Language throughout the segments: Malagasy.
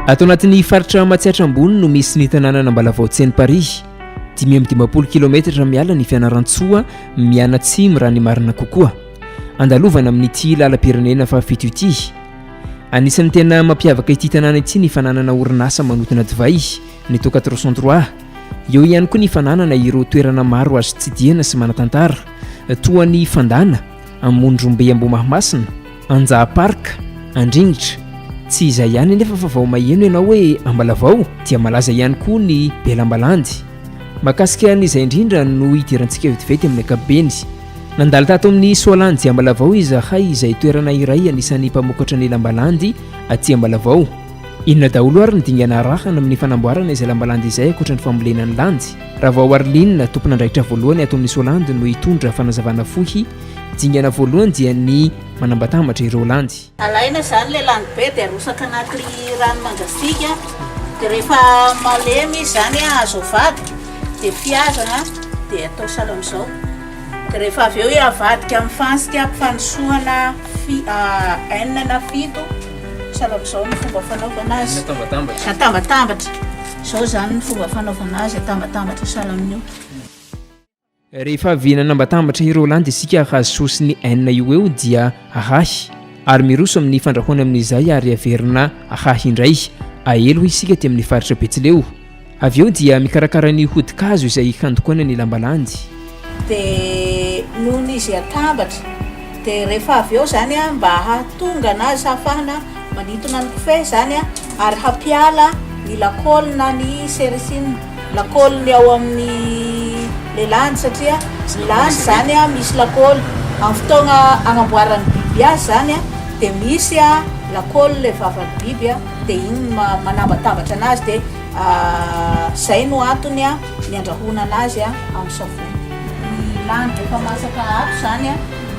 Ato anatin'ny faritra Matsiatra Ambony no misy ny tanànan' Ambalavao Tsenimparihy. Dimy amby dimampolo kilaometatra miala ny Fianarantsoa mianatsimo raha ny marina kokoa. Andalovana amin'ity lalam-pirenena fahafito ity. Anisan'ny tena mampiavaka ity tanàna ity ny fananana orinasa manotona divay. ny toka trois cent trois eo ihany koa ny fananana ireo toerana maro azo tsidihana sy manatantara toa ny fandana amondrombe ambomahamasina anjaha parka andringitra tsy izay ihany anefa fa vao maheno ianao hoe ambalavao dia malaza ihany koa ny belambalandy makasika ny izay indrindra no hidirantsika vetivety amin'ny akabeny nandalo tato amin'ny soalanjy ambalavao izahay izay toerana iray anisan'ny mpamokatra ny lambalandy aty ambalavao Inona daholo ary ny dingana arahana amin'ny fanamboarana izay lambalandy izay ankoatra ny fambolena ny landy? Ravao Arline, tompon'andraikitra voalohany ato amin'ny Solandy no hitondra fanazavana fohy. Dingana voalohany dia ny manambatambatra ireo landy. Alaina izany ilay landy be dia arotsaka anaty rano mangatsiaka dia rehefa malemy izy izany azo avadika dia fihazana dia atao sahala amin'izao dia rehefa avy eo avadika amin'ny fantsika fanosoana enina na fito Salakizao ny fomba fanaovana azy. Atambatambatra. Atambatambatra. Izao izany ny fomba fanaovana azy, atambatambatra sahala amin'io. Rehefa avy nanambatambatra ireo lanja isika hahazo sosy ny enina io eo dia ahahy ary miroso amin'ny fandrahoana amin'izay ary averina ahahy indray. Aelo isika aty amin'ny faritra Betsileo. Avy eo dia mikarakara ny hodi-kazo izay handokoana ny lamba landy. Dia nony izy atambatra. Dia rehefa avy eo izany an, mba hahatonga na hahafahana manintona ny kofehy izany an, ary hampiala ny lakôly na ny sericine, lakôly ny ao amin'ny le landy, satria ny landy izany an misy lakôly. Amin'ny fotoagna agnamboaran'ny biby azy izany an, dia misy an lakôly le vavan'ny biby an. Dia iny no maha manabatambatra anazy dia izay no antony ny andrahoana anazy amin'ny savony. Ny lany rehefa masaka ato izany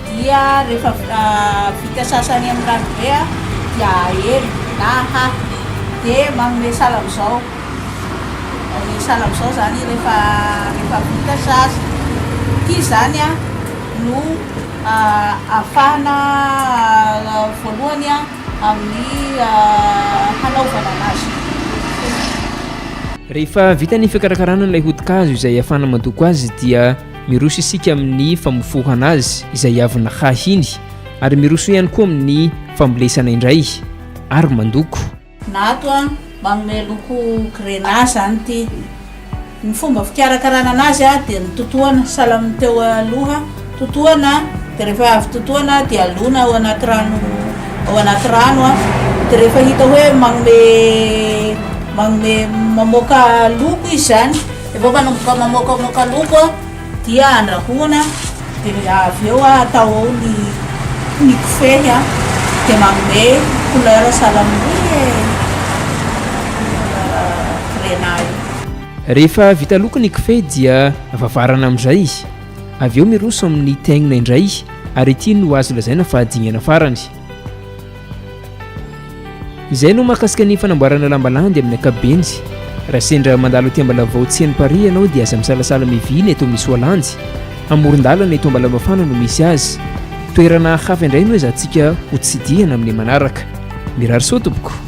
dia rehefa vita sasany amin'ny rano be dia aely na ahahy dia manome sahala amin'izao ny sahala amin'izao izany rehefa rehefa vita sasa. Ity izany no ahafahana voalohany a. amin'ny hanaovana anazy rehefa vita ny fikarakarana ilay hodi-kazo izay hafana mandoko azy dia miroso isika amin'ny famofohana azy izay havona hahiny ary miroso ihany koa amin'ny fambolesana indray ary mandoko na ato a manome loko grenat zany ity Ny fomba fikarakarana anazy dia ny totohana, sahala amin'ny teo aloha, totohana dia rehefa avy totohana dia alona ao anaty rano ao anaty rano dia rehefa hita hoe manome manome mamoaka loko izy izany, efa manomboka mamoakamoaka loko. Dia andrahoina dia avy eo atao ao ny ny kofehy dia manome couleur salamaloi e! Grenat io. Rehefa vita loko ny kofehy dia vavarana amin'izay izy. Avy eo miroso amin'ny teingna indray ary ity no azo lazaina fa dingana farany. Izay no mahakasika ny fanamboarana lamba landy amin'ny ankapobeny. Raha sendra mandalo aty Ambalavao tseno Paris ianao dia aza misalasala mivily eto amin'ny Soalandy. Amoron-dalana eto Ambalavafana no misy azy. Toerana hafa indray no ezantsika hotsidihana amin'ny manaraka. Mirary soa tompoko.